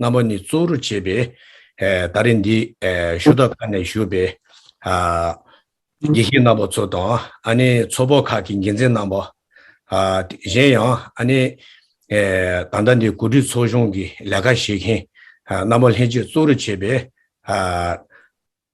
རྣམ་པ་ནི་གཙོ་བོར་བྱས་པའི། ད་རེས་འདི་ཞུ་དག་ཁ་ནས་བཞུགས་པའི། དགེ་བཤེས་རྣམ་པ་ཚོ་དང་ཨ་ནི་ཚོགས་པ་ཁག་གི་འགན་འཛིན་རྣམ་པ། གཞན་ཡང་ཨ་ནི། ད་ལྟ་འདི་གོ་སྒྲིག་ཚོགས་ཆུང་གི་ལས་ཀ་བྱེད་མཁན། རྣམ་པ་ལྷན་རྒྱས་གཙོ་བོར་བྱས་པའི།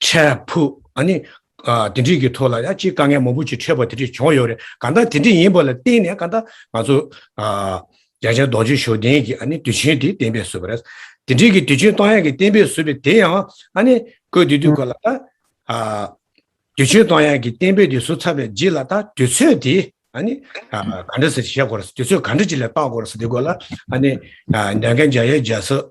འཕྲལ་ཕུགས་ཨ་ནི། དེ་འདྲིས་ཀྱི་ཐོག་ལ་ཡང་གཅིག་དཀའ་ངལ་མང་པོ་ཅིག་འཕྲད་པ་དེ་འདྲིས་བྱུང་ཡོད་རེད་གང་ལྟར་དེ་འདྲིས་ཡིན་པ་ལ་བརྟེན་ནས་གང་ལྟར་ང་ཚོ། རྒྱ་ཆེན་རྡོ་རྗེ་ཞོ་ལྡན་གྱིས་ཨ་ནི་དུས་ཆེན་དེ་གཏན་འབེབས་བཟོས་པ་རེད། དེ་འདྲིས་ཀྱི་དུས་ཆེན་གཏོང་ཡག་གི་གཏན་འབེབས་བཟོས་པའི་དེ་ཡང་ཨ་ནི། ཁོས་དེ་དུས་ཁོ་ལ། དུས་ཆེན་གཏོང་ཡག་གི་གཏན་འབེབས་དེ་བཟོ་ཚར་བའི་རྗེས་ལ་ད་དུས་ཚོད་དེ་ཨ་ནི། ག་འདྲ་ཟེར་བཤད་དགོ་ར་སོ་དུས་ཚོད་ག་འདྲ་ཅིག་ལ་བཏག་དགོ་ར་སོ་དེ་སྐོར་ལ་ཨ་ནི། རྒྱ་རྒན་རྒྱ་ཡལ་རྒྱལ་སོགས།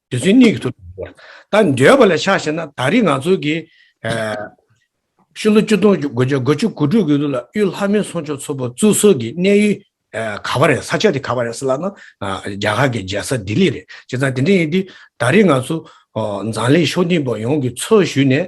དེ་ཚོའི་གནས་ཀྱི་ཐུགས་དམ་བསྐུར། ད་འདོད་པ་ལས་ཕྱག་བྱས་ན་ད་རེས་ང་ཚོ་གི། ཤུ་ལོ་བཅུ་སྟོང་དགུ་བརྒྱ་དགུ་བཅུ་དགུ་ཕྲུག་གི་ལུགས་ལ་གཡུ་ལྷ་མིན་སོང་ཆོག་ཚོ་པོ་ཙུ་སོགས་ཀྱི་གནས་ཡུལ། ག་པ་རེད་ས་ཆ་དེ་ག་པ་རེད་ས་ལ་ན་རྒྱ་གར་གྱི་རྒྱལ་ས་ལྡི་ལི་རེད་བྱས་ཙང་དེ་འདྲ་ཡིན་དུས་ད་རེས་ང་ཚོ། མཛངས་ལས་ཤོག་འཐིང་པ་ཡོངས་ཀྱི་ཚོགས་ཞུས་ནས་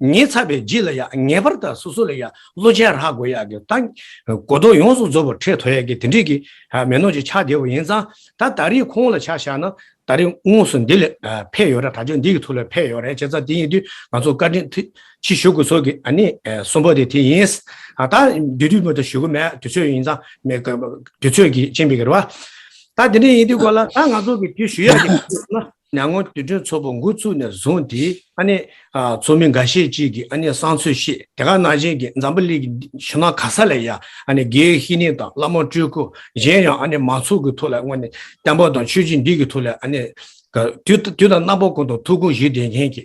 ངས་ཚ་བའི་རྗེས་ལ་ཡང་ངེས་པར་དུ་སོ་སོ་ལ་ཡང་བློ་ཆེན་རག་དགོས་ཡག་གི་ད་གོ་རྟོགས་ཡོངས་སུ་རྫོགས་པར་ཁྲེལ་དོ་ཡག་གི་དེ་འདྲས་ཀྱི་མེ་ནོར་གྱི་ཆ་དེ་བ་ཡིན་ཙང་ད་ད་རེས་ཁོང་ལ་ཆ་བཞག་ན་ད་རེས་དངོས་སུ་འདི་ལས་ཕེད་ཡོད་ར་དྲ་ཆོས་འདི་གི་ཐུགས་ལ་ཕེད་ཡོད་རེད་བྱས་ཙང་དེ་ཡིན་དུས་ང་ཚོ་བཀའ་དྲིན་ཆེ་ཞུ་དགོས་ཚོར་གི་ཨ་ནི་གསུམ་པ་དེ་དེ་ཡིན། ད་འདི་དུས་མོ་ད་ཞུ་གི་མེད་དུས་ཚོད་ཡིན་ཙང་མེད་དུས་ཚོད་ཀྱི་ཅིན་པའི་གི་ར་བ། ད་དེ་འདྲས་ཡིན་དུས་གོ་ལ་ད་ང་ཚོ་གི་དེ་ཞུ་ཡག་གི་ན་ནངས་དུས་དྲན་ཚོགས་པ་འགོ་ཚུགས་ནས་བཟུང་སྟེ། ཨ་ནེ། ཚོགས་མི་འགའ་ཤས་ཅིག་གིས་ཨ་ནེ་སང་ཚོས་ཤེས་དེ་ག་ནང་བཞིན་གྱི་འཛམ་བུ་གླིང་གི་ཆུ་ནང་ག་ས་ལ་ཡང་ཨ་ནེ་གྷེའི་ཧི་ནི་དང་བླ་མ་སྤྲུལ་སྐུ་གཞན་ཡང་ཨ་ནེ་མང་ཚོགས་ཀྱི་ཐུགས་ལ་དངོས་གནས་བསྟན་པ་དང་ཆོས་བྱེད་འདི་གི་ཐུགས་ལ་ཨ་ནེ། དུས་དང་རྣམ་པ་ཀུན་དང་ཐུགས་དགོངས་གཞི་བདེ་མཁན་གྱི་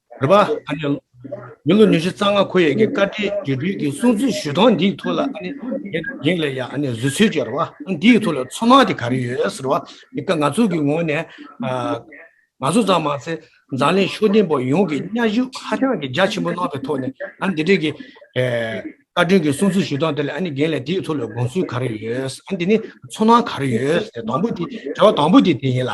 རེད་པ། ཨ་ནི། མི་ལོ་ཉི་ཤུ་རྩ་ལྔ་འཁོར་ཡས་ཀྱི་བཀའ་ཁྲིའི་དགེ་སྒྲུལ་གྱི་གསུང་ཚིག་ཞུས་སྟངས་འདིའི་ཐུགས་ལ་ཨ་ནི། ཡིག་ལས་ཡ་ཨ་ནི་བཟོད་ཚོད་ཀྱིས་རེད་པ། འདིའི་ཐུགས་ལ་ཚོར་སྣང་དེ་ག་རེ་ཡོད་རེད་པ། འདི་ཀ་ང་ཚོ་གི་ངོས་ནས། ང་ཚོ་ཙམ་མ་ཟད་འཛམ་གླིང་ཤོག་སྟེང་པ་ཡོངས་ཀྱིས་གཉའ་གཞུག་ཧ་ཅང་གི་རྒྱ་ཆེན་པོ་གནང་བའི་ཐོག་ནས་ཨ་ནི་འདི་འདྲའི་གི། བཀའ་དྲིན་གྱི་གསུང་ཚིག་ཞུས་སྟངས་དེ་ལ་ཨ་ནི་རྒན་ལས་འདིའི་ཐུགས་ལ་དགོངས་ཚུལ་ག་རེ་ཡོད། འདི་ནི་ཚོར་སྣང་ག་རེ་ཡོད། དང་པོ་དེ་དྲི་བ་དང་པོ་དེ་དེ་ཡིན་ལ།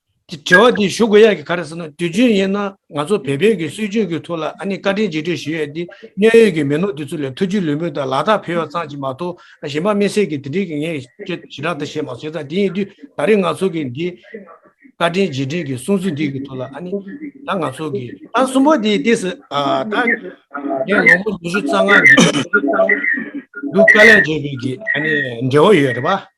དེ་དྲི་བ་དེ་ཞུ་དགོས་ཡ་གི་ག་རེ་ཟེར་ན་དུས་རྒྱུན་ཡིན་ན་ང་ཚོ་བལ་བོད་ཀྱི་སྲོལ་རྒྱུན་གྱི་ཐོག་ལ་ཨ་ནི་བཀའ་དྲིན་རྗེས་དྲན་ཞུ་ཡས་དེ་གནད་ཡོད་ཀྱི་མི་ནོར་དེ་ཚོ་ལས་ཐུགས་རྒྱུས་ལུས་མོས་དང་ལག་རྟགས་ཕེར་བ་ཙམ་གྱིས་མ་གཏོགས་གཞན་པ་མི་སེར་གྱི་དེ་འདྲིའི་གི་ངས་ཁྱོད་ཞི་དྲག་དང་བཤད་མ་བཟོད་ད་དེ་ཡིན་དུས་ད་རེས་ང་ཚོ་གི་འདི་བཀའ་དྲིན་རྗེས་དྲན་གྱི་གསུང་ཚིག་འདི་གི་ཐོག་ལ་ཨ་ནི་ད་ང་ཚོ་གི། ད་གསུམ་པོ་དེ་ལྟས་སུ་ད་ངས་ལོ་ངོ་ཉི་ཤུ་རྩ་ལྔ་འདི་འདུག་དཀའ་ལས་བྱས་པའི་གི་ཨ་ནི་འབྲེལ་བ་ཡོད་རེད་པ།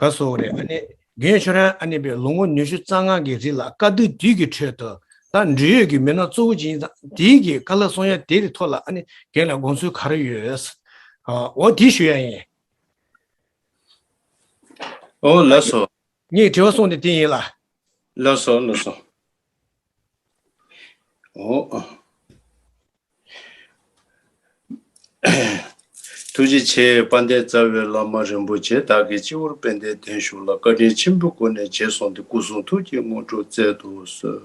ག་གཟོ་བོ་རེད་ཨ་ནེ། རྒན་ཁྱོད་རང་ཨ་ནེ་པའི་ལོ་ངོ་ཉི་ཤུ་རྩ་ལྔ་གི་རིང་ལ་བཀའ་བསྡུ་འདི་གི་ཁྲོད་དུ་ད་འབྲེལ་ཡོད་ཀྱི་མི་སྣ་གཙོ་བོ་ཇི་ཡིན་དང་དེ་གི་བཀའ་ལ་སོང་ཡ་དེ་རི་ཐོག་ལ་ཨ་ནེ་རྒན་ལ་དགོངས་ཚུལ་ག་རེ་ཡོད་འོ་དེ་ཞུ་ཡ་ཡིན། ཨོ་ལགས་སོ། ངས་དྲི་བ་སོང་དེ་དེ་ཡིན་ལ། ལགས་སོ་ལགས་སོ། ཐུགས་རྗེ་ཆེ་དཔལ་ལྡན་རྩ་བའི་བླ་མ་རིན་པོ་ཆེ་བདག་གི་སྤྱི་བོར་དཔལ་ལྡན་བརྟན་བཞུགས་ལ་བཀའ་དྲིན་ཆེན་པོའི་སྒོ་ནས་བྱས་སོང་སྟེ་སྐུ་གསུང་ཐུགས་ཀྱི་དངོས་གྲུབ་བསྩལ་དུ་གསོལ།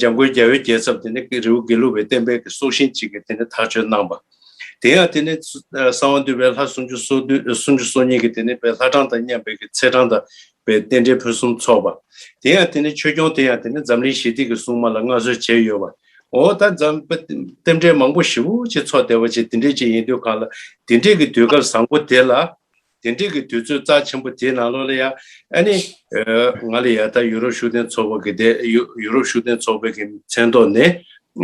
འཇམ་མགོན་རྒྱལ་བའི་རྒྱལ་ཚབ་དེ་ནི་རེའུ་དགེ་ལུགས་པའི་བསྟན་དཔལ་གྱི་སྲོག་ཤིང་ཅིག་གིས་དེ་ནི་ཐག་གཅོད་གནང་པ། དེ་ཡང་དེ་ནི་གསང་བ་འདུས་པའི་ལྷ་སུམ་ཅུ་སོ་བདུན་སུམ་ཅུ་སོ་གཉིས་ཀྱིས་དེ་ནི་པའི་ལྷ་གྲངས་དང་མཉམ་པའི་ཀྱི་ཚད་གྲངས་དང་པའི་རྟེན་འབྲེལ་ཕུན་སུམ་ཚོགས་པ། དེ་ཡང་དེ་ནི་ཆོས་སྐྱོང་དེ་ཡང་དེ་ནི་འཛམ་གླིང་ཞི་བདེ་ཀྱི་སྲུང་མ་ལ་མངའ་གསོལ་བྱས་ཡོད་པ། འོ་ད་འཛམ་བུ་རྟེན་འབྲེལ་མང་པོ་ཞིག་བུ་ཅིག་ཚོགས་བསྡད་པ་ཅིག་འདི་འདྲས་ཅིག་ཡིན་དུས་གང་ལ་འདི་འདྲས་ཀྱི་དུས་སྐབས་བཟང་པོ་དེ་ལ། དེ་འདྲིས་ཀྱི་དུས་ཚོད་རྩ་ཆེན་པོ་དེའི་ནང་ལོགས་ལ་ཡང་ཨ་ནི། ང་ལ་ཡ་ད་ཡུ་རོབ་ཤུགས་ལྡན་ཚོགས་པ་གི་དེ་ཡུ་རོབ་ཤུགས་ལྡན་ཚོགས་པའི་གི་མཚན་ཐོག་ནས་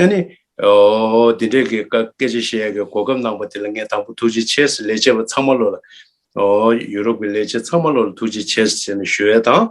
ཨ་ནི། འདི་འདྲའི་གི་སྐད་ཆ་བཤད་ཡ་གི་གོ་སྐབས་གནང་པ་དེ་ལ་ངས་དང་པོ་ཐུགས་རྗེ་ཆེ་ཟེར་ལས་བྱེད་པ་ཚང་མ་ལོགས་ལ། ཡུ་རོབ་གི་ལས་བྱེད་ཚང་མ་ལོགས་ལ་ཐུགས་རྗེ་ཆེ་ཟེར་ནས་ཞུ་ཡ་དང།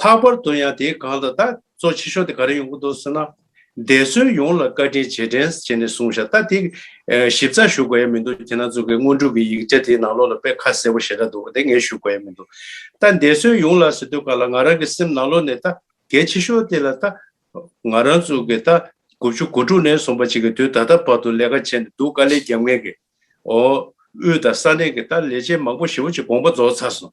ལྷག་པར་དུ་ཡང་དེའི་སྒང་ལ་ད་གཙོ་ཆེ་ཤོས་དེ་ག་རེ་ཡོང་གི་འདུག་ཟེར་ན། འདས་གསོན་ཡོངས་ལ་བཀའ་དྲིན་རྗེས་དྲན་བྱས་ནས་གསུངས་བཞག་ད་དེ་ཞིབ་ཚགས་ཞུ་དགོས་ཡ་མི་འདུག་དེ་ན་ཚོ་གི་དངོས་གྲུབ་ཀྱི་ཡིག་ཆ་དེའི་ནང་ལོགས་ལ་དཔེ་ཁ་གསལ་པོ་ཞེ་དྲག་འདུག་དེ་ངས་ཞུ་དགོས་ཡ་མི་འདུག་ད་འདས་གསོན་ཡོངས་ལ་ཟེར་དུས་ག་ལ་ང་རང་གི་སེམས་ནང་ལོགས་ནས་ད་གལ་ཆེ་ཤོས་དེ་ལ་ད་ང་རང་ཚོ་གི་ད་དགུ་བཅུ་གོ་དྲུག་ནས་སོང་པ་ཅིག་གི་དུས་ད་ལྟ་བར་དུ་ལས་ཀ་བྱས་ནས་འདུག་དཀའ་ལས་རྒྱབ་ངལ་གྱིས། དབུས་དང་ས་གནས་ཀྱི་ད་ལས་བྱེད་མང་པོ་ཞེ་བོ་ཅིག་དགོངས་པ་རྫོགས་ཚར་སོང།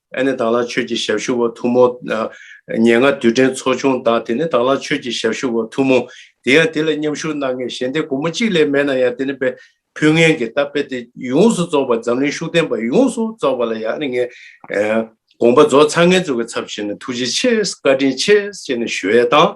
ཨ་ནེ་དྭགས་ལ་ཆོས་ཀྱི་ཞབས་ཞུ་བ་ཐུ་མོ། ཉེ་སྔ་དུས་དྲན་ཚོགས་ཆུང་དང་དེ་ནི་དྭགས་ལ་ཆོས་ཀྱི་ཞབས་ཞུ་བ་ཐུ་མོ། དེ་ཡང་དེ་ལ་མཉམ་ཞུགས་གནང་མཁན་གཞན་སྡེ་དགུ་མོ་གཅིག་ལས་མེད་ན་ཡང་དེ་ནི་པའི་ཕུལ་ངན་གྱི་རྟ་དཔེ་སྟེ་ཡོངས་སུ་རྫོགས་པ་འཛམ་གླིང་ཤུགས་ལྡན་པ་ཡོངས་སུ་རྫོགས་པ་ལ་ཡང་ཨ་ནེ་ངས་དགོངས་པ་རྫོགས་ཚར་ངེད་ཚོ་གི་ཚབ་བྱས་ནས་ཐུགས་རྗེ་ཆེ་བཀའ་དྲིན་ཆེ་ཞེས་ནས་ཞུ་ཡས་དང།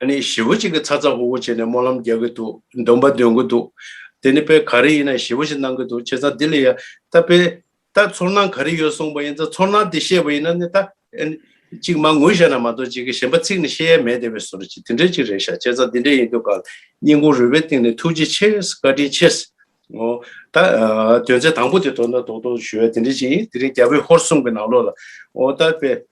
ཨ་ནི་ཞི་བ་གཅིག་གི་ཚ་ཚ་ཧུ་ཧུ་བྱས་ནས་སྨོན་ལམ་རྒྱག་གི་འདུག་འདོན་པ་འདོན་གི་འདུག་དེ་ནི་དཔེ་ག་རེ་ཡིན་ན་ཞི་བ་ཞིག་གནང་གི་འདུག་བྱས་ཙང་དེ་ལས་ཡ་ད་དཔེ་ད་ཚོར་སྣང་ག་རེ་ཡོད་གསུངས་པ་ཡིན་ཙང་ཚོར་སྣང་དེ་བཤད་པ་ཡིན་ན་ནི་ད་གཅིག་མ་ངུ་བཤད་ན་མ་གཏོགས་གཅིག་གི་གཞན་པ་ཚིག་ནི་བཤད་ཡས་མེད་དེ་བས་ཟུར་གཅིག་དེ་འདྲས་གཅིག་རེད་ཤག་བྱས་ཙང་དེ་འདྲས་ཡིན་དུས་ཀར་སྙིང་ཁུང་རུས་པའི་སྟེང་ནས་ཐུགས་རྗེ་ཆེ་བཀའ་དྲིན་ཆེ། ཨོ། ད། དོན་ཚན་དང་པོ་དེ་དོ་ན་དོག་དོག་ཞུ་ཡ་དེ་འདྲས་གཅིག་ཡིན་དེ་རིང་རྒྱ་བོད་ཧོར་གསུམ་གི་ནང་ལོགས་ལ། ཨོ། ད་དཔེ།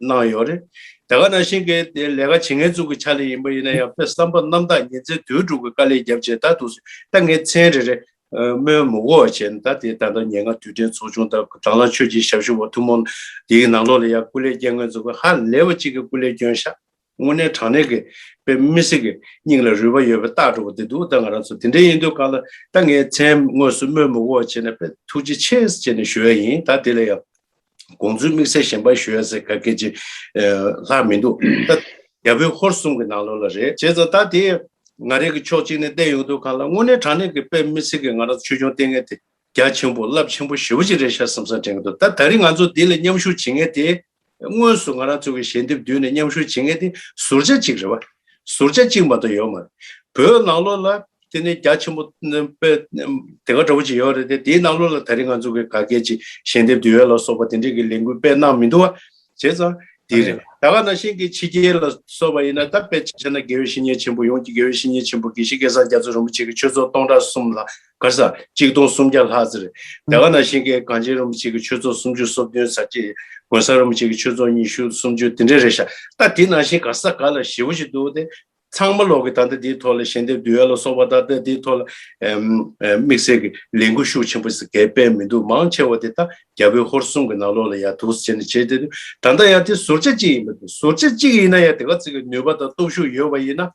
གནང་ཡོད་རེད། དེ་ག་ནང་བཞིན་གྱི་དེ་ལས་ཀ་བྱེད་ངེས་ཙུག་གི་ཆ་ལས་ཡིན་པ་ཡིན་ན་ཡང་དཔེ་བསམ་པ་རྣམ་དག་ཉིན་མཚན་དུས་དྲུག་གི་དཀའ་ལས་རྒྱབ་བྱས་ད་དུ་ད་ངས་མཚན་རེ་རེ། སྨོན་མོ་འོ་བྱས་ན་ད་དེ་ད་ལྟ་ཉེ་སྔ་དུས་དྲན་ཚོགས་ཆུང་དང་དྭང་བླངས་ཆོས་ཀྱི་ཞབས་ཞུ་བ་ཐུན་མོང་དེའི་ནང་ལོགས་ལ་ཡང་སྐུ་ལས་བསྐྱལ་ངེས་ཙུག་གི་ཧ་ལས་པ་གཅིག་གི་སྐུ་ལས་བསྐྱོན་ཤག་དངོས་གནས་དྲང་གནས་ཀྱི་དཔེ་མི་སྲིད་ཀྱི་སྙིང་ལ་རུས་པ་ཡོད་པའི་རྟགས་གྲུབ་པོ་དེ་འདུག་ད་ང་རང་ཚོ་དེ་འདྲའི་ཡིན་དུས་ག་ལ་ད་ངའི་མཚན་དངོས་སུ་དམོད་མོ་བོ་བྱེད་ན་དཔེ་ཐུགས་རྗེ་ཆེ་ཅེས་ནས་ཞུ་ཡ་ཡིན་ད་དེ་ལ་ཡང་དགོངས་ཚུལ་དམིགས་བསལ་གཞན་པར་ཞུ་ཡ་ཟེར་ག་གལ་ཆེ་ལྷག་མི་འདུག་ད་རྒྱ་བོད་ཧོར་གསུམ་གྱི་ནང་ལོགས་ལ་རེད་བྱས་ཙང་ད་དེ་ང་རེ་གི་ཕྱོགས་གཅིག་ནས་བལྟས་ཡོང་དུས་ག་ལ་དངོས་གནས་དྲང་གནས་ཀྱི་དཔེ་མི་སྲིད་ཀྱི་ང་རང་ཚོ་ཆོས་འབྱུང་ལྟས་ངན་དེ་རྒྱ་ཆེན་པོ་རླབས་ཆེན་པོ་ཞེ་བོ་གཅིག་རེད་ཤག་བསམ་བསམ་དྲན་གི་འདུག་ད་ད་རིང་ང་ཚོ་འདི་ལ་མཉམ་ཞུགས་བྱེད་ངེས་དེ། དངོས་སུ་ང་རང་ཚོ་གི་ཞལ་འདེབས་བསྡུས་ནས་མཉམ་ཞུགས་བྱེད་ངེས་དེ་ཟུར་ཆ་གཅིག་རེད་བ། ཟུར་ཆ་གཅིག་མ་གཏོགས་ཡོད་མ་རེད། བོད་ནང་ལོགས་ལ་དེ་ནི་རྒྱ་ཆེན་པོ་དཔེ་དེ་ག་འདྲ་བོ་ཅིག་ཡོད་རེད་དེ་དེའི་ནང་ལོགས་ལ་ད་རིང་ང་ཚོ་གི་ག་སྐད་ཅིག་ཞལ་འདེབས་བསྡུས་ཡོད་ལ་སོགས་པ་དེ་འདྲས་གི་ལས་འགུལ་སྤེལ་གནང་མི་འདུག་བ། བྱས་ཙང་འདི་རེད། ད་ག་ནང་བཞིན་གི་ཕྱི་རྒྱལ་ལ་སོགས་པ་ཡིན་ན་ད་དཔེ་ཆ་ན་དགེ་བའི་བཤེས་གཉེན་ཆེན་པོ་ཡོངས་ཀྱི་དགེ་བའི་བཤེས་གཉེན་ཆེན་པོ་དགེ་བཤེས་སྐལ་བཟང་རྒྱ་མཚོ་རིན་པོ་ཆེ་གི་ཆོས་ཚོགས་སྟོང་ཕྲག་གསུམ་ལ་སྐར་ས་གཅིག་སྟོང་སུམ་བརྒྱ་ལྷག་ཟེར། རྒྱ་གར་ནང་ཤིང་ཀའི་གངས་ཅན་རིན་པོ་ཆེ་གི་ཆོས་ཚོགས་སུམ་ཅུ་སོ་བདུན་ཟེར་གྱི། དགོན་ས་རིན་པོ་ཆེ་གི་ཆོས་ཚོགས་ཉི་ཤུ་སུམ་ཅུ་དེ་འདྲས་རེད་ཤག་ད་དེ་ནང་བཞིན་སྐར་ས་ག་ལ་ཞེ་བོ་ཞིག་འདུག་སྟེ། ཚང་མ་ལོག་གི་ད་ལྟ་དེའི་ཐོག་ལ་ཞལ་འདེབས་བསྡུ་ཡ་ལ་སོགས་པ་ད་ལྟ་དེའི་ཐོག་ལ། དམིགས་བསལ་གི་ལས་འགུལ་ཤུགས་ཆེན་པོ་ཞིག་གས་སྤེལ་མི་འདུག་མང་ཆེ་བ་དེ་ད་རྒྱ་བོད་ཧོར་གསུམ་གི་ནང་ལོགས་ལ་ཡར་དུག་སེལ་བྱེད་ནས་བྱས་ཏེ། ད་ལྟ་ཡང་དེ་ཟུར་ཆ་གཅིག་ཡིན་པ་དང་ཟུར་ཆ་གཅིག་ཡིན་ན་ཡང་དེ་ག་ཚོད་ཀྱི་ནུས་པ་དང་སྟོབས་ཤུགས་ཡོད་པ་ཡིན་ན།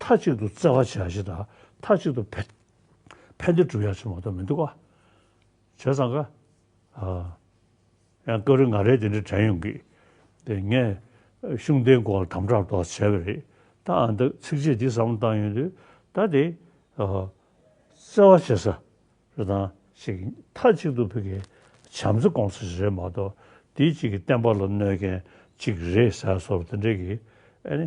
མཐའ་གཅིག་ཏུ་བརྩེ་བ་བྱ་བཞི་དང་མཐའ་གཅིག་ཏུ་ཕན་བདེ་བསྒྲུབ་ཡག་བྱེད་མ་གཏོགས་མི་འདུག་ག། བྱས་ཙང་ག། ཡང་སྐབས་རེ་ང་རེ་དེ་འདྲ་དྲན་ཡོང་གི། དེ་ངས་གཞུང་དེའི་མགོ་ལ་དམ་དྲག་མདོག་བྱས་པ་རེད། ད་ཨ་འདི་ཚིག་རྗེས་འདི་ཟབ་མོ་བཏང་ཡོང་དུས་ད་དེ། བརྩེ་བ་བྱེད་ས་རེ་དང། ཞིག་གིས་མཐའ་གཅིག་ཏུ་ཕི་གའི་བྱམས་བརྩེ་སྐོང་ས་ཞིག་རེད་མ་གཏོགས་དེའི་གཅིག་གིས་བསྟན་པ་ལ་གནོད་མཁན་གཅིག་རེད་ཟེར་སོགས་དེ་འདྲའི་གི་ཨ་ནི།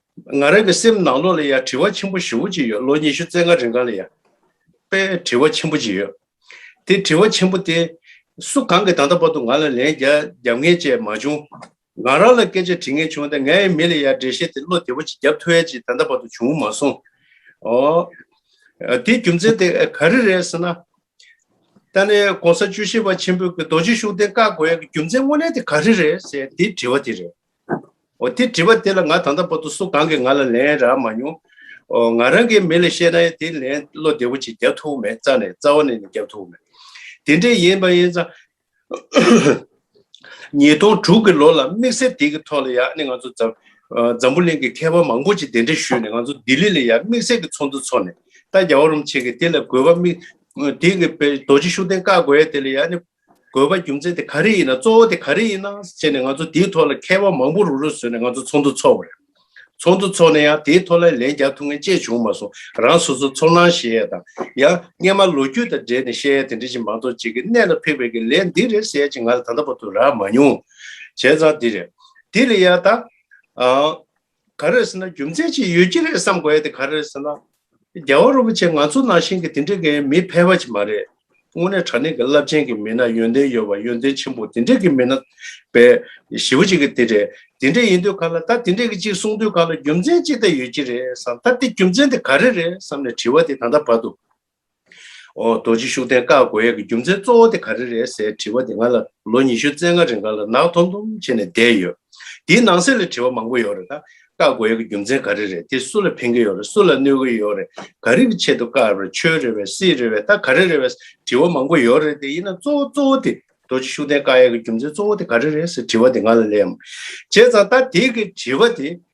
ང་རང་གི་སེམས་ནང་ལོགས་ལ་ཡང་དྲི་བ་ཆེན་པོ་བཞི་བོ་གཅིག་ཡོད་ལོ་ཉི་ཤུ་རྩེ་ལྔ་རིང་ག་ལ་ཡང། པའི་དྲི་བ་ཆེན་པོ་གཅིག་ཡོད། དེ་དྲི་བ་ཆེན་པོ་དེ། སུ་གང་གིས་ད་ལྟ་བར་དུ་ང་ལ་ལན་རྒྱབ་ངེས་ཅེས་མ་བྱུང། ང་རང་ལ་སྐད་ཆ་དྲི་ངེས་བྱུང་སྟེ་ངའི་མི་ལ་ཡང་འགྲེལ་བཤད་དེ་བློ་བདེ་བོ་གཅིག་རྒྱབ་ཐུ་ཡལ་གཅིག་ད་ལྟ་བར་དུ་བྱུང་མ་སོང། ཨོ། དེའི་རྒྱུ་མཚན་དེ་ག་རེ་རེད་ཟེར་ན། ད་ནི་གོང་ས་བཅུ་བཞི་པ་ཆེན་པོས་རྡོ་རྗེ་ཤུགས་ལྡན་བཀའ་བསྒོ་ཡག་གི་རྒྱུ་མཚན་དངོས་གནས་དེ་ག་རེ་རེད་ཟེར་དེའི་དྲི་བ་དེ་རེད། འོ་དེ་དྲི་བ་དེ་ལ་ང་ད་ལྟ་བར་དུ་སུ་གང་གིས་ང་ལ་ལན་རག་མ་མྱོང། འོ་ང་རང་གིས་མི་ལ་བཤད་ན་ཡང་དེ་ལན་བློ་བདེ་བོ་ཅིག་རྒྱབ་ཐུབ་མེད་རྩ་ནས་རྩ་བ་ནས་ནས་རྒྱབ་ཐུབ་མེད། དེ་འདྲས་ཡིན་པ་ཡིན་ཙང། ཉིས་སྟོང་དྲུག་གི་ལོ་ལ་དམིགས་བསལ་དེ་གི་ཐོག་ལ་ཡང་ནི་ང་ཚོ་འཛམ་འཛམ་བུ་གླིང་གི་མཁས་པ་མང་པོ་ཅིག་དེ་འདྲས་ཞུས་ནས་ང་ཚོ་ལྡི་ལི་ལ་ཡང་དམིགས་བསལ་གི་ཚོགས་འདུ་ཚོགས་ནས་ད་རྒྱ་བ་རུམ་བྱེད་ཀྱི་དེ་ལ་དགོས་པ་དམིགས་དེ་གི་པའི་རྡོ་རྗེ་ཤུགས་ལྡན་བཀའ་བསྒོ་ཡ་དེ་ལ་ཡང་ནི་དགོས་པ་རྒྱུ་མཚན་དེ་ག་རེ་ཡིན་ན་གཙོ་བོ་དེ་ག་རེ་ཡིན་ན་ཅེས་ནས་ང་ཚོ་དེའི་ཐོག་ལ་མཁས་པ་མང་པོ་རུ་རུ་བཟོས་ནས་ང་ཚོ་ཚོགས་འདུ་འཚོགས་པ་རེད། ཚོགས་འདུ་འཚོགས་ནས་ཡང་དེའི་ཐོག་ལ་ལན་རྒྱག་ཐུབ་ངན་ཅེས་བྱུང་མ་སོང་རང་སོ་སོ་ཚོར་སྣང་བཤད་ཡས་དང་ཡང་སྔས་མ་ལོ་རྒྱུས་དང་འབྲེལ་ནས་བཤད་ཡས་དེ་འདྲ་ཞིག་མང་ཚོགས་གཅིག་གི་གནད་ལ་ཕིགས་པའི་གི་ལན་འདི་རེད་ཟེར་ཡས་ཅིག་ང་ལ་ད་ལྟ་བར་དུ་རག་མ་མྱོང། བྱས་ཙང་འདི་རེད། དེ་ལས་ཡང་དང། ག་རེད་ཟེར་ན་རྒྱུ་མཚན་ཅིག་ཡོད་ཀྱི་རེད་བསམ་དགོས་ཡ་དེ་ག་རེད་ཟེར་ན། རྒྱལ་བ་རིན་པོ་ཆེ་ང་ཚོ་ནང་བཞིན་གྱི་དེ་འདྲའི་གི་མི་ཕལ་བ་ཅིག་མ་རེད། དངོས་གནས་དྲ་གནས་ཀྱི་རླབས་ཆེན་གྱི་མི་སྣ་ཡོན་ཏན་ཡོད་པ་ཡོན་ཏན་ཆེན་པོ་དེ་འདྲའི་གི་མི་སྣ་བས་ཞི་བ་ཅིག་གི་དེ་རེད་དེ་འདྲས་ཡིན་དུས་ག་ལ་ད་དེ་འདྲས་ཀྱི་ཅིག་གསུང་དུས་ག་ལ་རྒྱུ་མཚན་ཅིག་ད་ཡོད་ཀྱི་རེད་བསམ་ད་དེ་རྒྱུ་མཚན་དེ་ག་རེ་རེད་བསམ་ནས་དྲི་བ་དེ་ད་ལྟ་བར་དུ་རྡོ་རྗེ་ཤུགས་ལྡན་བཀའ་བསྒོ་ཡས་ཀྱི་རྒྱུ་མཚན་གཙོ་བོ་དེ་ག་རེ་རེད་ཟེར་དྲི་བ་དེ་ང་ལ་ལོ་ཉི་ཤུ་རྩེ་ལྔ་རིང་ང་ལ་ནག་འཐོམ་འཐོམ་བྱས་ནས་བསྡད་ཡོད། དེའི་ནང་གསེས་ལ་དྲི་བ་མང་པོ་ཡོད་རེད་ད། བཀའ་བསྒོ་ཡས་ཀྱི་རྒྱུ་མཚན་ག་རེ་རེད་དེ་སུ་ལ་ཕན་གྱི་ཡོད་རེད་སུ་ལ་གནོད་གྱི་ཡོད་རེད་ག་རེ་གྱི་ཆེད་དུ་བཀའ་རེད་ཆོས་རེད་བས་སྲིད་རེད་བས་ད་ག་རེ་རེད་བས་དྲི་བ་མང་པོ་ཡོད་རེད་དེ་ཡིན་ན་གཙོ་བོ་གཙོ་བོ་དེ་རྡོ་རྗེ་ཤུགས་ལྡན་བཀའ་ཡས་ཀྱི་རྒྱུ་མཚན་གཙོ་བོ་དེ་ག་རེ་རེད་ཟེར་དྲི་བ་དེ་ང་ལ་ལས་མང་བྱས་ཙང་ད་དེ་གི་དྲི་བ་དེ་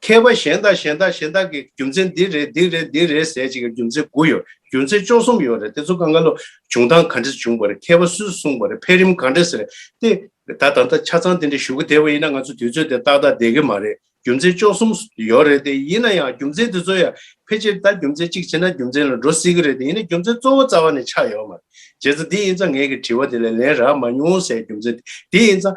མཁས་པ་གཞན་དག་གཞན་དག་གཞན་དག་གི་རྒྱུ་མཚན་འདི་རེད་འདི་རེད་འདི་རེད་ཟེར་ཅིག་རྒྱུ་མཚན་དགུ་ཡོད་རྒྱུ་མཚན་བཅོ་གསུམ་ཡོད་རེད་དེ་ཚོ་གང་ག་ལོ་བྱུང་སྟངས་ག་འདྲ་བྱུང་བ་རེད་མཁས་པ་སུས་གསུངས་པ་རེད་འཕེལ་རིམ་ག་འདྲ་ཟེར་ཏེ། ད་ད་ལྟ་ཆ་ཚང་དེ་འདྲ་ཞུ་གི་བསྡད་པ་ཡིན་ན་ང་ཚོ་དུས་ཚོད་དེ་ཏག་ཏག་བསྡད་གི་མ་རེད་རྒྱུ་མཚན་བཅོ་གསུམ་ཡོད་རེད་དེ་ཡིན་ན་ཡང་རྒྱུ་མཚན་དེ་ཚོ་ཡང་ཕལ་ཆེར་ད་རྒྱུ་མཚན་གཅིག་བྱས་ན་རྒྱུ་མཚན་ལ་འགྲོ་སྲིད་གི་རེད་དེ་ཡིན་ན་རྒྱུ་མཚན་གཙོ་བོ་རྩ་བ་ནས་ཆགས་ཡོད་མ་རེད་བྱས་ཙང་དེ་ཡིན་ཙང་ངེད་ཀྱི་དྲི་བ་དེ་ལ་ལན་རག་མ་མྱོང་ཟེར་རྒྱུ་མཚན་དེ་ཡིན་ཙང་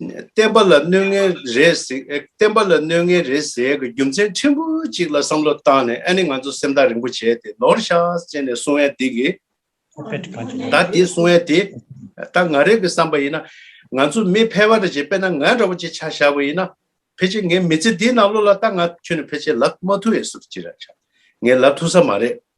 བསྟན་པ་ལ་གནོད་ངན་རེ་ཟེགས་བསྟན་པ་ལ་གནོད་ངན་རེ་ཟེགས་ཀྱི་རྒྱུ་མཚན་ཕྲན་བུ་གཅིག་ལ་བསམ་བློ་བཏང་ནས་ཨ་ནི་ང་ཚོ་སེམས་ཐག་རིང་པོ་བྱས་ཏེ་ནོར་ཤ་ཅན་ནས་སོང་ཡ་དེ་གི་ད་དེ་སོང་ཡ་དེ་ད་ང་རེ་གི་བསམ་པ་ཡིན་ན་ང་ཚོ་མི་ཕལ་བ་རེ་བྱས་པས་ན་ང་འདྲ་བོ་ཅིག་ཆ་བཞག་པ་ཡིན་ན་ཕལ་ཆེ་ངའི་མི་ཚེ་འདི་ནང་ལོ་ལ་ད་ང་ཁྱོད་ནི་ཕལ་ཆེ་ལབ་མ་ཐུབ་ཡས་སུ་ཅི་ར་ཆ་ངས་ལབ་ཐུབ་ས་མ་རེད།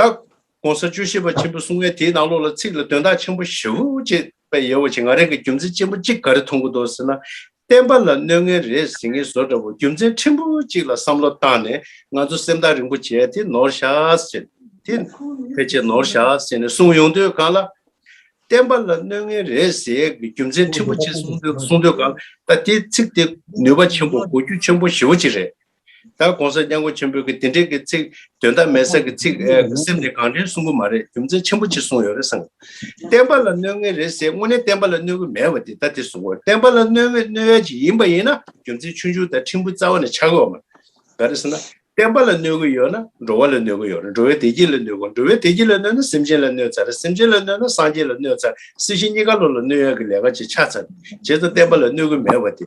བདག། གོང་ས་བཅུ་ཤེས་པ་ཆེན་པོ་གསུང་ངས་དེའི་ནང་ལོགས་ལ་ཚིག་ལ་དོན་དག་ཆེན་པོ་བཞི་བོ་ཅེས་པའི་ཡལ་བ་ཆེ་ང་རེ་འགའི་རྒྱུ་མཚན་ཅན་པོ་གཅིག་ག་རེ་མཐོང་གི་འདུག་ཟེར་ན། བསྟན་པ་ལ་གནོད་ངན་རེ་ཟིན་ངེས་བཟོ་འདྲ་བོ་རྒྱུ་མཚན་ཕྲན་བུ་གཅིག་ལ་བསམ་བློ་བཏང་ནས་ང་ཚོ་སེམས་ཐག་རིང་པོ་བྱས་དེ་ནོར་ཤགས་ཟེར་དེ། ཕལ་ཆེར་ནོར་ཤགས་ཟེར་ནས་གསུང་ཡོང་དུས་གང་ལ། བསྟན་པ་ལ་གནོད་ངན་རེ་ཟེར་གི་རྒྱུ་མཚན་ཕྲན་བུ་གཅིག་གསུང་དུས་གསུང་དུས་གང་ལ་ད་དེ་ཚིག་དེ་ནུས་པ་ཆེན་པོ་གོ་རྒྱུ་ཆེན་པོ་བཞི་བོ་གཅིག་རེད། ད་གོང་ས་སྙན་གོ་ཆེན་པོས་གི་དེ་འདྲའི་གི་ཚིག་དོན་དག་མེད་ས་གི་ཚིག་སེམས་ནས་གང་དྲན་གསུང་གི་མ་རེད་རྒྱུ་མཚན་ཆེན་པོ་གཅིག་གསུང་ཡོད་རེད་སང། བསྟན་པ་ལ་གནོད་ངེས་རེད་ཟེར་དངོས་གནས་བསྟན་པ་ལ་གནོད་གི་མེད་བ་དེ་ད་དེ་གསུང་གོ་བསྟན་པ་ལ་གནོད་ངེས་གནོད་ཡ་གཅིག་ཡིན་པ་ཡིན་ན་རྒྱུ་མཚན་ཆུང་ཆུང་དང་ཕྲན་བུ་རྩ་བ་ནས་ཆགས་ཡོད་མ་ག་རེད་ཟེར་ན་བསྟན་པ་ལ་གནོད་གི་ཡོད་ན་འགྲོ་བ་ལ་གནོད་གི་ཡོད་རེད་འགྲོ་བའི་བདེ་སྐྱིད་ལ་གནོད་གོ་འགྲོ་བའི་བདེ་སྐྱིད་ལ་གནོད་ན་སེམས་ཅན་ལ་གནོད་ཚར་སེམས་ཅན་ལ་གནོད་ན་སངས་རྒྱས་ལ་གནོད་ཚར་སྲིད་ཞི་གཉིས་ཀ་བློ་ལ་གནོད་ཡ་གི་ལས་ཀ་ཅིག་ཆགས་ཚར་རྗེས་སུ་བསྟན་པ་ལ་གནོད་གི་མེད་བ་དེ།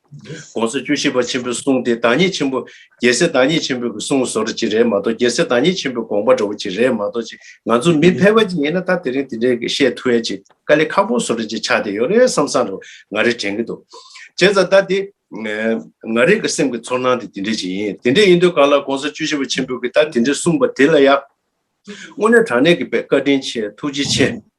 དགོངས་སུ་བཅུ་བཞི་པ་ཆེན་པོའི་གསུང་དེ་བདག་ཉིད་ཆེན་པོ་རྒྱལ་སྲས་བདག་ཉིད་ཆེན་པོས་ཀྱི་གསུང་ཟོར་གཅིག་རེད་མ་གཏོགས་རྒྱལ་སྲས་བདག་ཉིད་ཆེན་པོའི་དགོངས་པ་འདྲ་བོ་གཅིག་རེད་མ་གཏོགས་ཅིག་ང་ཚོ་མི་ཕལ་བ་ཅིག་ཡིན་ན་ད་དེ་རིང་དེ་འདྲའི་བཤད་ཐུ་ཡ་ཅིག་དཀའ་ལས་ཁག་པོ་ཟོ་རེ་ཅིག་ཆགས་བསྡད་ཡོད་རེད་བསམ་བསམ་རེ་ང་རེ་དྲན་གྱི་འདུག་བྱས་ཙང་ད་དེ་ང་རེ་གི་སེམས་ཀྱི་ཚོར་སྣང་དེ་དེ་འདྲས་ཅིག་ཡིན་དེ་འདྲས་ཡིན་དུས་གང་ལ་དགོངས་སུ་བཅུ་བཞི་པ་ཆེན་པོས་ཀྱི་ད་དེ་འདྲས་གསུངས་པ་དེ་ལ་ཡང་དངོས་གནས་དྲང་གནས་ཀྱི་བཀའ་དྲིན་ཆེ་ཐུགས་རྗེ་ཆེ།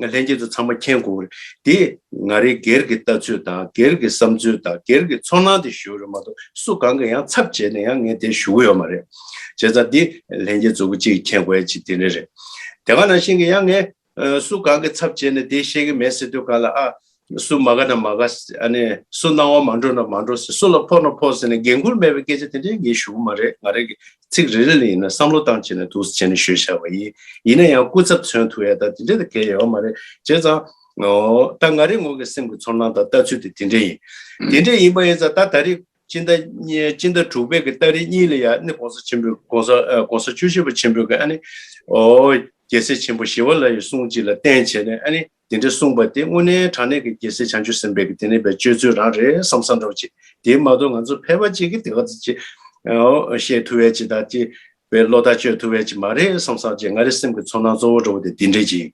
ལྷན་ཅིག་ཏུ་ཚང་མ་མཁྱེན་དགོས་པ་རེད། དེས་ང་རེ་སྒེར་གྱི་ལྟ་ཚུལ་དང་སྒེར་གྱི་བསམ་ཚུལ་དང་སྒེར་གྱི་ཚོར་སྣང་དེ་ཞུ་རེ་མ་གཏོགས་སུ་གང་གི་ཡང་ཚབ་བྱས་ནས་ཡང་ངས་དེ་ཞུ་གི་ཡོད་མ་རེད། བྱས་ཙང་དེ་ལྷན་རྒྱས་གཙོ་བོ་གཅིག་མཁྱེན་དགོས་ཡ་གཅིག་དེ་འདྲ་རེད། དེ་ག་ནང་བཞིན་གྱི་ཡང་ངས་སུ་གང་གི་ཚབ་བྱས་ནས་དེ་བཤད་གི་མེད་ཟེར་དུས་གང་ལ་ཨ། སུ་མ་ག་ན་མ་ག། སུ་སྣང་བ་མ་འགྲོ་ན་མ་འགྲོ་ཟེར་སུ་ལ་ཕོག་ན་ཕོག་ཟེར་ནས་འགན་ཁུར་མེད་པའི་སྐད་ཆ་དེ་འདྲའི་ངས་ཞུ་གི་མ་རེད་ང་རང་གིས་ཚིག་རེ་རེ་ལ་ཡིན་ན་བསམ་བློ་བཏང་བྱས་ནས་དུག་བྱས་ནས་ཤོད་བཞག་པ་ཡིན། ཡིན་ན་ཡང་སྐུ་ཚབ་མཚོན་ཐུག་ཡ་ད་དེ་འདྲས་དང་གལ་ཡོད་པ་མ་རེད་བྱས་ཙང། ད་ང་རེ་ངོ་གི་སེམས་ཀྱི་ཚོར་སྣང་དང་ལྟ་ཚུལ་དེ་དེ་འདྲས་ཡིན། དེ་འདྲས་ཡིན་པ་ཡིན་ཙང་ད་ད་རེས་སྤྱི་ཟླ་སྤྱི་ཟླ་དྲུག་པའི་གི་སྟ་རེ་གཉིས་ལ་ཡ་ནི་གོང་ས་ཆེན་པོའི་གོང་ས་གོང་ས་བཅུ་བཞི་པ་ཆེན་པོའི་གི་ཨ་ནི། རྒྱལ་སྲས་ཆེན་པོ་ཞི་བ་ལ་ཡི་གསུང་གཅིག་ལ་བརྟེན་བྱས་ནས་ཨ་ནི། དེ་འདྲ་གསུངས་པ་དེ་དངོས་གནས་དྲང་གནས་ཀྱི་རྒྱལ་སྲས་བྱང་ཆུབ་སེམས་དཔའི་གི་དེ་ནས་པའི་སྤྱོད་ཚུལ་རང་རེད་བསམ་བསམ་རོགས་ཅིག་དེའི་མ་ཏོག་ང་ཚོ་ཕལ་པ་ཅིག་གི་དེ་ག་ཚོད་ཅིག་བཤད་ཐུབ་བས་ཅིག་དང་ཅིག་བའི་བློ་ཐག་གཅོད་ཐུབ་བས་ཅིག་མ་རེད་བསམ་བསམ་ཅིག་ང་རེ་སེམས་ཀྱི་ཚོར་སྣང་གཙོ་བོ་འགྲོ་བ་དེ་དེ་འདྲས་ཅིག་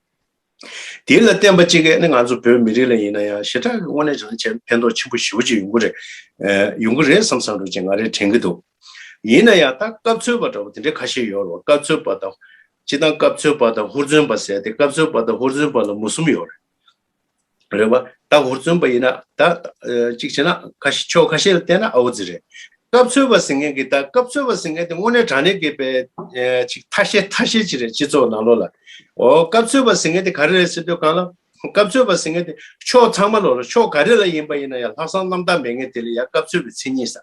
དེ་ལ་བརྟེན་པ་ཅིག་གི་ནི་ང་ཚོ་བོད་མི་རིགས་ལ་ཡིན་ན་ཡང་ཞེ་དྲག་གི་དངོས་གནས་རང་བྱས་ཕན་ཐོག་ཆེན་པོ་ཞི་བོ་ཅིག་ཡོང་གི་རེད་ཡོང་གི་རེད་བསམ་བསམ་རོགས་ཅིག་ང་རེ་དྲན་གི་འདུག་ཡིན་ན་ཡང་ད་སྐབས་འཚོལ་བ་འདྲ་བོ་དེ་འདྲས་ཁ་ཤས་ཡོད་རེད་བ་སྐབས་འཚོལ་བ་དང་སྤྱི་དང་སྐབས་འཚོལ་པ་དང་ཧུར་བརྩོན་པ་ཟེར་ཏེ་སྐབས་འཚོལ་པ་དང་ཧུར་བརྩོན་པ་ལ་མུ་གསུམ་ཡོད་རེད་བ། ད་ཧུར་བརྩོན་པ་ཡིན་ན་ད་གཅིག་བྱས་ན་ཁ་ཤས་ཕྱོགས་ཁ་ཤས་ལ་བལྟས་ན་ཨའོ་རྫི་རེད། སྐབས་འཚོལ་བ་ཟེར་མཁན་གྱི་ད་སྐབས་འཚོལ་བ་ཟེར་མཁན་དེ་དངོས་གནས་དྲང་གནས་གྱི་པའི་ཅིག་ཐ་ཤལ་ཐ་ཤལ་ཅིག་རེད་སྤྱི་ཚོགས་ནང་ལོགས་ལ། ཨོ་སྐབས་འཚོལ་བ་ཟེར་མཁན་དེ་ག་རེ་རེད་ཟེར་དུས་གང་ལ། སྐབས་འཚོལ་བ་ཟེར་མཁན་དེ་ཕྱོགས་ཚང་མ་ལོགས་ལ་ཕྱོགས་ག་རེ་ལ་ཡིན་པ་ཡིན་ན་ཡང་ལྷག་བསམ་རྣམ་དག་མེད་མཁན་དེ་ལ་ཡང་སྐབས་འཚོལ་བའི་མཚན་ཉིད་ཟ།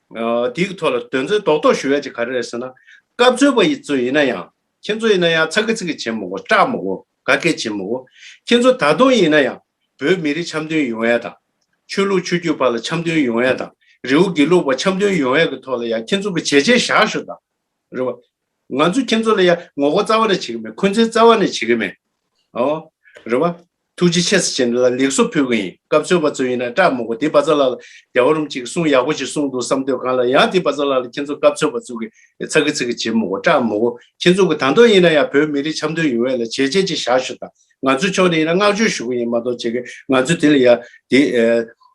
དེའི་ཐོག་ལ་དོན་ཚན་རྡོག་རྡོག་ཞུ་ཡ་ཅིག་ག་རེ་རེད་ཟེར་ན། སྐབས་འཚོལ་བ་ཡི་ཚོ་ཡིན་ན་ཡང། ཁྱེད་ཚོ་ཡིན་ན་ཡང་ཚ་གི་ཚིག་གི་བྱེད་མི་གོ་སྐྲག་མི་གོ་ག་གེ་བྱེད་མི་གོ། ཁྱེད་ཚོ་ད་དུང་ཡིན་ན་ཡང་བོད་མི་རིགས་འཆམ་མཐུན་ཡོང་ཡ་དང། ཆོས་ལུགས་ཆོས་རྒྱུད་བར་ལ་འཆམ་མཐུན་ཡོང་ཡ་དང་རེའུ་དགེ་ལུགས་བར་འཆམ་མཐུན་ཡོང་ཡ་གི་ཐོག་ལ་ཡང་ཁྱེད་ཚོ་གི་བྱས་རྗེས་བཞག་ཤོག་དང། རེད་བ། ང་ཚོས་ཁྱེད་ཚོ་ལ་ཡང་ངོ་རྒོལ་རྩ་བ་ནས་བྱེད་གི་མེད་འཁོན་འཛིན་རྩ་བ་ནས་བྱེད་གི་མེད། ཨོ། རེད་བ། ཐུགས་རྗེ་ཆེ་ས་ཆེན་ལ་ལེགས་སོ་ཕུལ་གི་ཡིན་སྐབས་ཚོད་པ་ཚོད་ཡིན་ན་སྐྲག་མི་དགོ་དེ་བ་ཚ་ལགས་ལ་རྒྱ་བ་རུམ་ཅིག་གསུང་ཡག་པོ་ཞིག་གསུང་འདུག་བསམ་དོད་གང་ལ་ཡང་དེ་བ་ཚ་ལགས་ལ་ཁྱེད་ཚོ་སྐབས་ཚོད་པ་ཚུག་གི་ཚ་གི་ཚིག་གི་བྱེད་མི་དགོ་སྐྲག་མི་དགོ་ཁྱེད་ཚོ་གི་དང་ཐོག་ཡིན་ན་ཡང་བོད་མི་རིགས་འཆམ་མཐུན་ཡོང་བས་ལ་བྱས་རྗེས་ཅིག་བཞག་ཞུ་དང་ང་ཚོའི་ཕྱོགས་ནས་ཡིན་ན་བསྔགས་བརྗོད་ཞུ་གི་ཡིན་མ་གཏོགས་བྱེད་གི་ང་ཚོ་དེ་ལ་ཡ་དེ་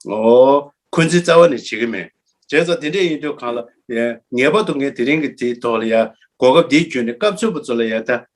ཨོ་འཁོན་འཛིན་རྩ་བ་ནས་བྱེད་གི་མེད་བྱས་ཙང་དེ་འདྲས་ཡིན་དུས་གང་ལ་ངེས་པར་དུ་ངས་དེ་རིང་གི་དེའི་ཐོག་ལ་ཡ་གོ་སྐབས་འདི་བརྒྱུད་ནས་སྐབས་ཚོད་པ་ཚོ་ལ་ཡ་ཐ།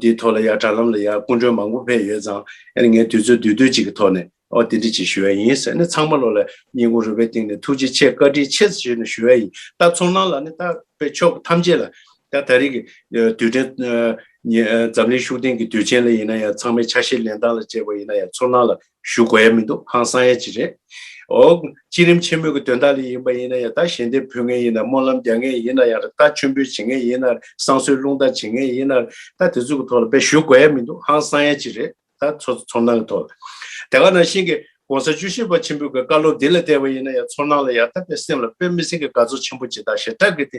འདིའི་ཐོག་ལ་ཡང་དྲ་ལམ་ལ་ཡང་སྐུ་མགྲོན་མང་པོ་ཕེབས་ཡོད་ཙང་ཡང་ནས་ངས་དུས་ཚོད་དུས་དུས་གཅིག་གི་ཐོག་ནས་འདི་འདྲི་བྱེད་ཞུ་ཡ་ཡིན་ཟེར་ནས་ཚང་མ་ལོ་ལ་སྙིང་ཁུང་རུས་པའི་གཏིང་ནས་ཐུགས་རྗེ་ཆེ་བཀའ་དྲིན་ཆེ་ཟེར་ནས་ཞུ་ཡ་ཡིན་ད་ཚོར་སྣང་ལ་ནི་ད་དཔེ་ཕྱོགས་ཐམས་ཅད་ལ་ད་ད་རེས་ཀྱི་དུས་དྲན་ཉིན་འཛམ་གླིང་ཤུགས་ལྡན་གྱི་དུས་ཆེན་ལ་ཡིན་ན་ཡང་ཚང་མས་ཆ་ཤས་ལེན་སྟངས་ལ་དཔྱད་པ་ཡིན་ན་ཡང་ཚོར་སྣང་ལ་ཞུ་དགོས་ཡ་མི་འདུག་ཧང་སང་ཡ་ཅི་རེད། ཨོ། སྤྱིར་རིམ་ཆེན་མོ་གི་དོན་དག་ལས་ཡིན་པ་ཡིན་ན་ཡང་ད་གཞན་དེ་འཕུད་ངེས་ཡིན་ན་སྨོན་ལམ་རྒྱག་ངེས་ཡིན་ན་ཡང་ར་ད་མཆོད་འབུལ་བྱེད་ངེས་ཡིན་ན་ར་བསང་གསོལ་རླུང་རྟ་བྱེད་ངེས་ཡིན་ན་ར་ད་དེ་ཚོ་གི་ཐོག་ལ་དཔེ་ཞུ་དགོས་ཡ་མི་འདུག་ཧང་སང་ཡ་ཅི་རེད། ད་ཚོ་ཚོར་སྣང་གི་ཐོག་ལ། དེ་ག་ནང་བཞིན་གི ྋགོང་ས་བཅུ་བཞི་པ་ཆེན་པོའི་གི་བཀའ་སློབ་འདི་ལ་བལྟས་པ་ཡིན་ན་ཡང་ཚོར་སྣང་ལ་ཡང་ད་དཔེ་སེམས་ལ་དཔེ་མི་སེམས་ཀྱི་དགའ་ཚོར་ཆེན་པོ་ཇི་ལྟར་ཞེ་དྲག་གི་དེ་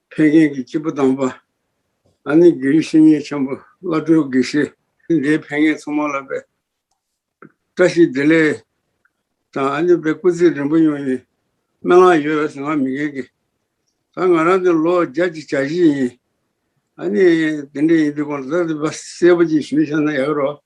ཕན་མཁན་གྱི་སྐྱེས་བུ་དམ་པ། ཨ་ནི་གྷི་རིག་བཤེས་གཉེན་ཆེན་པོ་བླ་སྤྲུལ་དགེ་བཤེས། འདིའི་ཕན་ངེད་ཚང་མ་ལ་འབད། བཀྲ་ཤིས་བདེ་ལེགས། དང་ཨ་ནི་པའི་སྐུ་ཚེ་རིང་པོ་ཡོང་ཡིན། སྨན་ལག་ཡོད་བས་སུ་ང་མི་འགལ་གི། ད་ང་རང་དེ་ལོ་བརྒྱ་གཅིག་གྱ་བཞི་ཡིན། ཨ་ནི། དེ་འདྲ་ཡིན་དུས་གོང་ད་ལྟ་འདི་བསེ་བ་གཅིག་ཞུས་ཤག་ན་ཡག་རོགས།